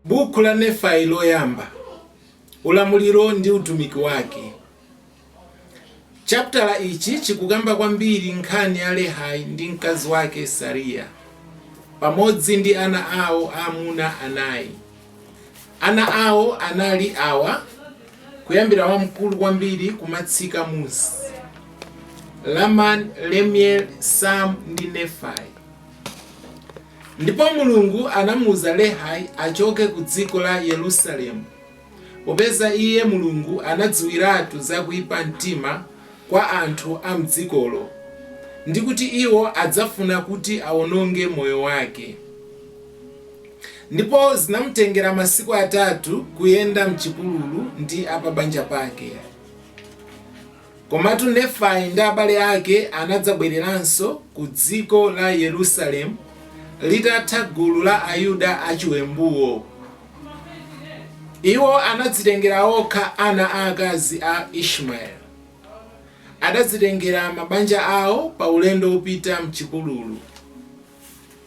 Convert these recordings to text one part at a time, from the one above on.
Bukhu la Nefai Loyamba, Ulamuliro ndi Utumiki Wake, Chaputala ichi chikukamba kwambiri nkhani ya Lehai ndi mkazi wake Sariya, pamodzi ndi ana awo aamuna anayi. Ana awo anali awa, kuyambira wamkulu kwambiri kumatsika musi, Lamani, Lemueli, Samu ndi Nefai. Ndipo Mulungu anamuuza Lehai achoke ku dziko la Yerusalemu, popeza iye, Mulungu, anadziwiratu za kuipa mtima kwa anthu a mdzikolo, ndi kuti iwo adzafuna kuti awononge moyo wake. Ndipo zinamutengera masiku atatu kuyenda m'chipululu ndi a pa banja pake. Komatu Nefai ndi abale ake anadzabwereranso ku dziko la Yerusalemu litatha gulu la Ayuda achiwembuwo. Iwo anadzitengera okha ana aakazi a Ishmaeli. Adadzitengera mabanja awo pa ulendo wopita m'chipululu.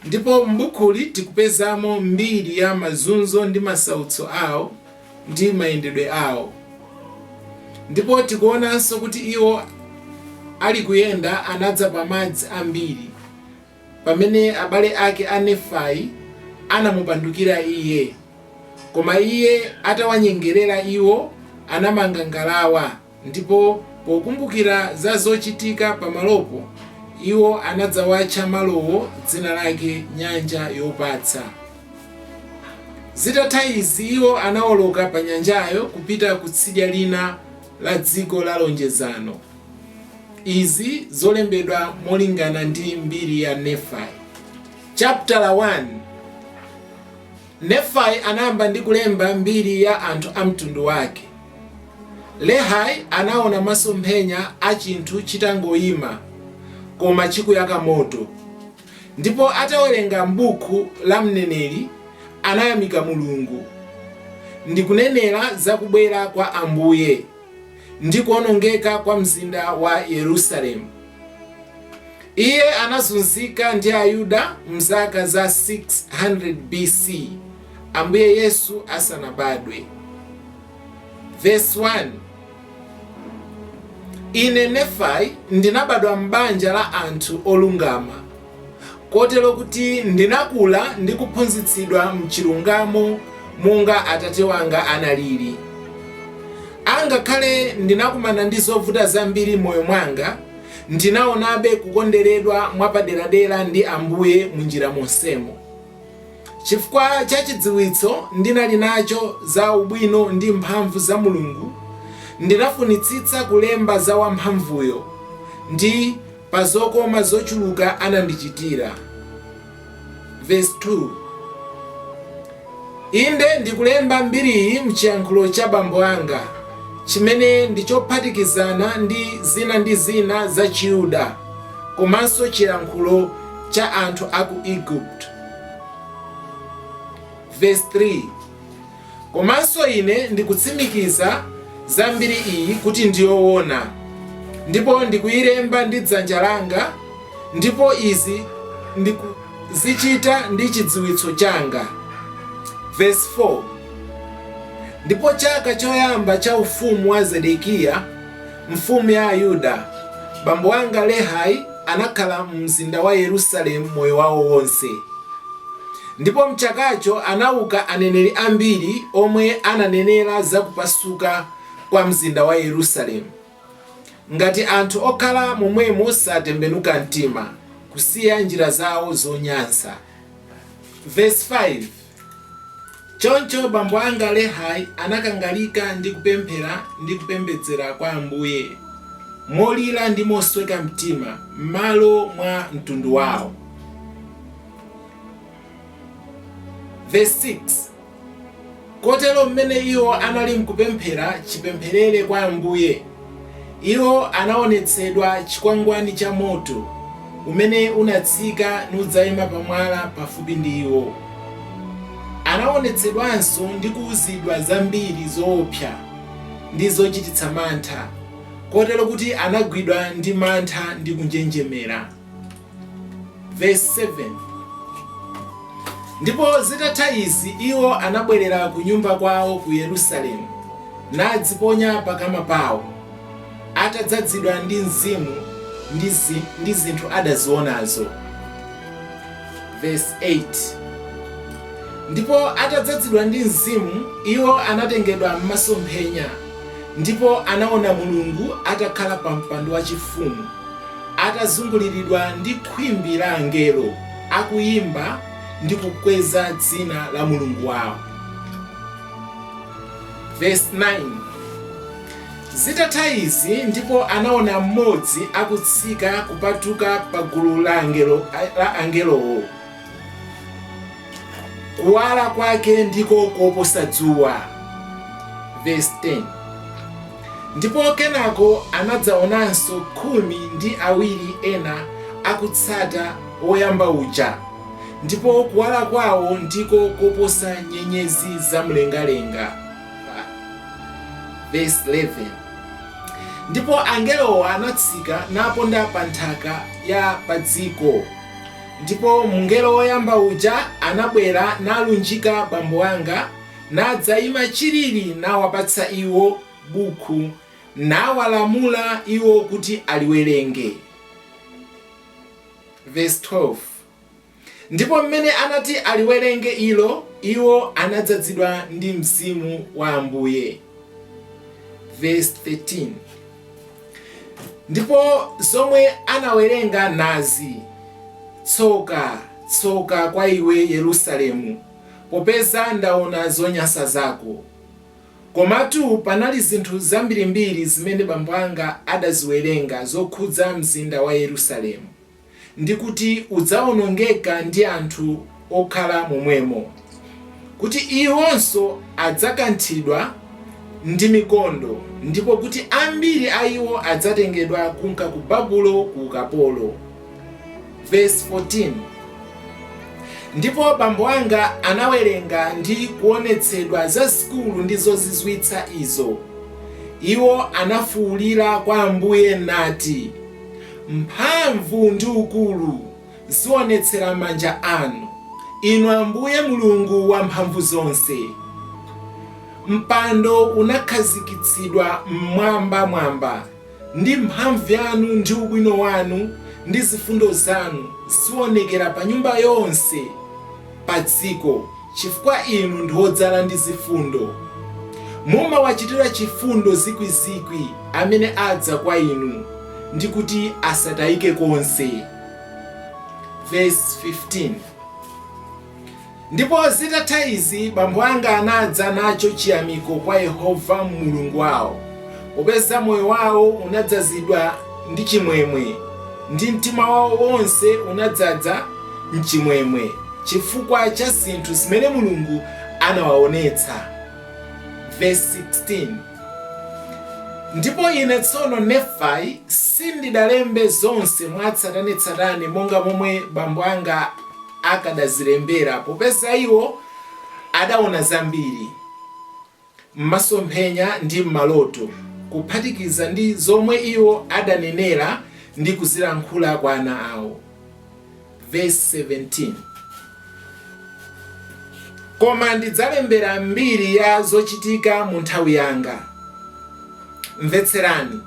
Ndipo m'bukhuli tikupezamo mbiri ya mazunzo ndi masautso awo ndi mayendedwe awo. Ndipo tikuonanso kuti iwo ali kuyenda anadza pa madzi ambiri, pamene abale ake a Nefai anamupandukira iye, koma iye atawanyengerera iwo anamanga ngalawa, Ndipo pokumbukira za zochitika pamalopo, iwo anadzawatcha malowo dzina lake Nyanja Yopatsa. Zitatha izi iwo anawoloka pa nyanjayo kupita ku tsidya lina la dziko la lonjezano. Izi zolembedwa molingana ndi mbiri ya Nefai, chaputala 1. Nefai anayamba ndi kulemba mbiri ya anthu a mtundu wake. Lehai anaona masomphenya a chinthu chitangoima koma chikuyaka moto, ndipo atawerenga m'bukhu la mneneri anayamika Mulungu ndikunenera za kubwera kwa Ambuye. ndi kuonongeka kwa mzinda wa Yerusalemu. Iye anazunzika ndi Ayuda mzaka za 600 BC Ambuye Yesu asanabadwe. Verse 1 Ine Nefai ndinabadwa m'banja la anthu olungama kotero kuti ndinakula ndi kuphunzitsidwa m'chilungamo monga atate wanga analiri. Angakhale ndinakumana ndi zovuta zambiri m'moyo mwanga, ndinaonabe kukonderedwa mwapaderadera ndi Ambuye munjira monsemo. Chifukwa cha chidziwitso ndinali nacho za ubwino ndi mphamvu za Mulungu, ndinafunitsitsa kulemba za Wamphamvuyo ndi. pa zokoma zochuluka anandichitira. Vesi 2, Inde, ndikulemba mbiriyi m'chiyankhulo cha bambo anga, chimene ndi chophatikizana ndi zina ndi zina za Chiyuda komanso chilankhulo cha anthu a ku Igupto. Vesi 3. Komanso ine ndikutsimikiza za mbiri iyi kuti ndi yowona, ndipo ndikuyilemba ndi dzanja langa, ndipo izi ndikuzichita ndi chidziwitso changa. Vesi 4, Ndipo chaka choyamba cha ufumu wa Zedekiya, Mfumu ya Ayuda bambo anga Lehi anakhala mumzinda wa Yerusalemu moyo wawo wonse. Ndipo m'chakacho anauka aneneri ambiri omwe ananenera za kupasuka kwa mzinda wa Yerusalemu, ngati anthu okhala momwemo satembenuka mtima, kusiya njira zawo zonyansa. Vesi 5. Choncho bambo anga Lehi anakangalika ndi kupemphera ndi kupembedzera kwa Ambuye molira ndi mosweka mtima m'malo mwa mtundu wawo. Verse 6 Kotero mmene iwo anali mkupemphera chipempherere kwa Ambuye, Iwo anaonetsedwa chikwangwani cha moto umene unatsika nudzaima pa mwala pafupi ndi iwo. Anaonetsedwanso ndi kuuzidwa zambiri zoopsa ndi zochititsa mantha, kotero kuti anagwidwa ndi mantha ndi kunjenjemera. Verse 7 ndipo zitatha izi iwo anabwerera ku nyumba kwawo ku Yerusalemu nadziponya pakama pawo atadzadzidwa ndi mzimu ndi, zi, ndi zinthu adazionazo Verse 8 ndipo atadzadzidwa ndi mzimu iwo anatengedwa m'masomphenya ndipo anaona Mulungu atakhala pa mpando wachifumu atazunguliridwa ndi khwimbi la angelo, akuyimba ndi kukweza dzina la Mulungu wawo. Verse 9 Zitatha izi ndipo anaona mmodzi akutsika kupatuka pa gulu la angelowo kuwala kwake ndiko koposa dzuwa verse 10 ndipo kenako anadzaonanso khumi ndi awiri ena akutsata woyamba uja ndipo kuwala kwawo ndiko koposa nyenyezi za mlengalenga verse 11 ndipo angelowo anatsika naponda pa nthaka ya padziko Ndipo mngelo woyamba uja anabwera nalunjika bambo anga, nadzaima chilili nawapatsa iwo bukhu, nawalamula iwo kuti aliwerenge. Verse 12, Ndipo m'mene anati aliwerenge ilo, iwo anadzazidwa ndi Mzimu wa Ambuye. Verse 13. ndipo zomwe anawerenga nazi tsoka tsoka kwa iwe yerusalemu popeza ndaona zonyansa zako komatu panali zinthu zambirimbiri zimene bambo anga adaziwerenga zokhudza mzinda wa yerusalemu ndi kuti udzawonongeka ndi anthu okhala momwemo, kuti iwonso adzakanthidwa ndi mikondo, ndipo kuti ambiri a iwo adzatengedwa kunka ku Babulo ku ukapolo. Verse 14 Ndipo bambo anga anawerenga ndi kuonetsedwa zazikulu ndi zozizwitsa izo, iwo anafuulira kwa Ambuye, nati, Mphamvu ndi ukulu zionetsera manja anu, Inu Ambuye Mulungu Wamphamvuzonse. Mpando unakhazikitsidwa m'mwambamwamba ndi mphamvu yanu ndi ubwino wanu ndi zifundo zanu zionekera pa nyumba yonse padziko. Chifukwa inu ndi odzala ndi zifundo, mumawachitira chifundo zikwi zikwi amene adza kwa inu ndi kuti asatayike konse. Verse 15, Ndipo zitatha izi bambo anga anadza nacho chiyamiko kwa Yehova Mulungu wawo, Popeza moyo wawo unadzazidwa ndi chimwemwe, ndi mtima wawo wonse unadzaza n'chimwemwe chifukwa cha zinthu zimene Mulungu anawaonetsa. Vesi 16, Ndipo ine tsono, Nefai, sindidalembe zonse mwatsatanetsatane monga momwe bambo anga akadazilembera, popeza iwo adaona zambiri. m'masomphenya ndi m'maloto, kuphatikiza ndi zomwe iwo adanenera ndi kuzilankhula kwa ana awo. Vesi 17 Koma ndidzalembera mbiri ya zochitika mu nthawi yanga. Mvetserani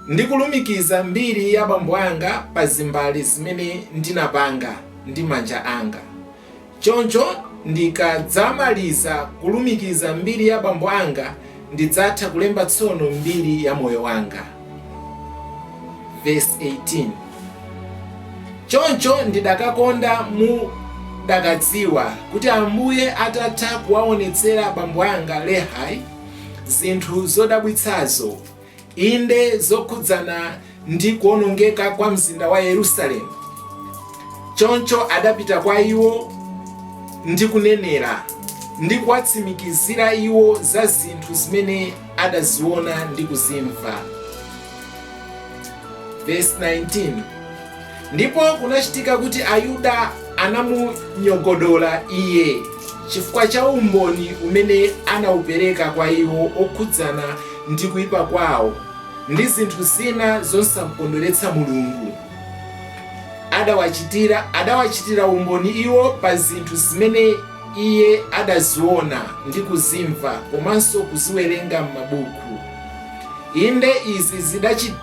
ndikulumikiza mbiri ya bambo anga pa zimbale zimene ndinapanga ndi manja anga. Choncho ndikadzamaliza kulumikiza mbiri ya bambo anga, ndidzatha kulemba tsono mbiri ya moyo wanga. Vesi 18, Choncho ndidakakonda mudakadziwa kuti Ambuye atatha kuwaonetsera bambo anga Lehi zinthu zodabwitsazo, Inde, zokhudzana ndi kuonongeka kwa mzinda wa Yerusalemu, Choncho adapita kwa iwo ndi kunenera, ndi kuwatsimikizira iwo za zinthu zimene adaziona ndi kuzimva. Vesi 19. Ndipo kunachitika kuti Ayuda anamunyogodola iye chifukwa cha umboni umene anaupereka kwa iwo okhudzana ndi kuipa kwawo ndi zinthu zina zosamkondweretsa Mulungu. Adawachitira adawachitira umboni iwo pa zinthu zimene iye adaziona ndi kuzimva komanso kuziwerenga m'mabuku. Inde, izi zidachit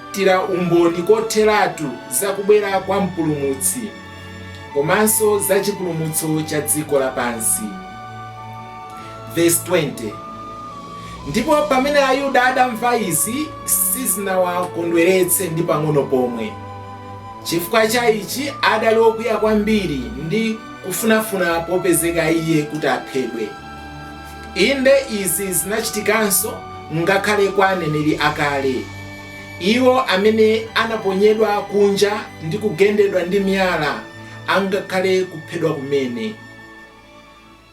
chitira umboni kotheratu za kubwera kwa Mpulumutsi komanso za chipulumutso cha dziko lapansi. Vesi 20, Ndipo pamene Ayuda adamva izi, sizinawakondweretse ndi pang'ono pomwe. Chifukwa cha ichi adali okwiya kwambiri ndi kufunafuna popezeka iye kuti aphedwe. Inde, izi zinachitikanso ngakhale kwa aneneri akale. Iwo amene anaponyedwa kunja ndi kugendedwa ndi miyala angakhale kuphedwa kumene.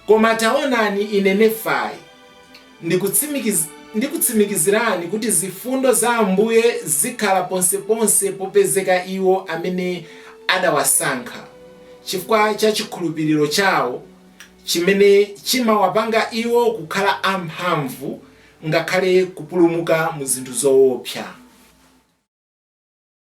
Koma taonani, ine Nefai, ndikutsimikiz, ndikutsimikizirani kuti zifundo za Ambuye zikhala ponseponse popezeka iwo amene adawasankha, chifukwa cha chikhulupiliro chawo, chimene chimawapanga iwo kukhala amphamvu ngakhale kupulumuka mu zinthu zoopsa.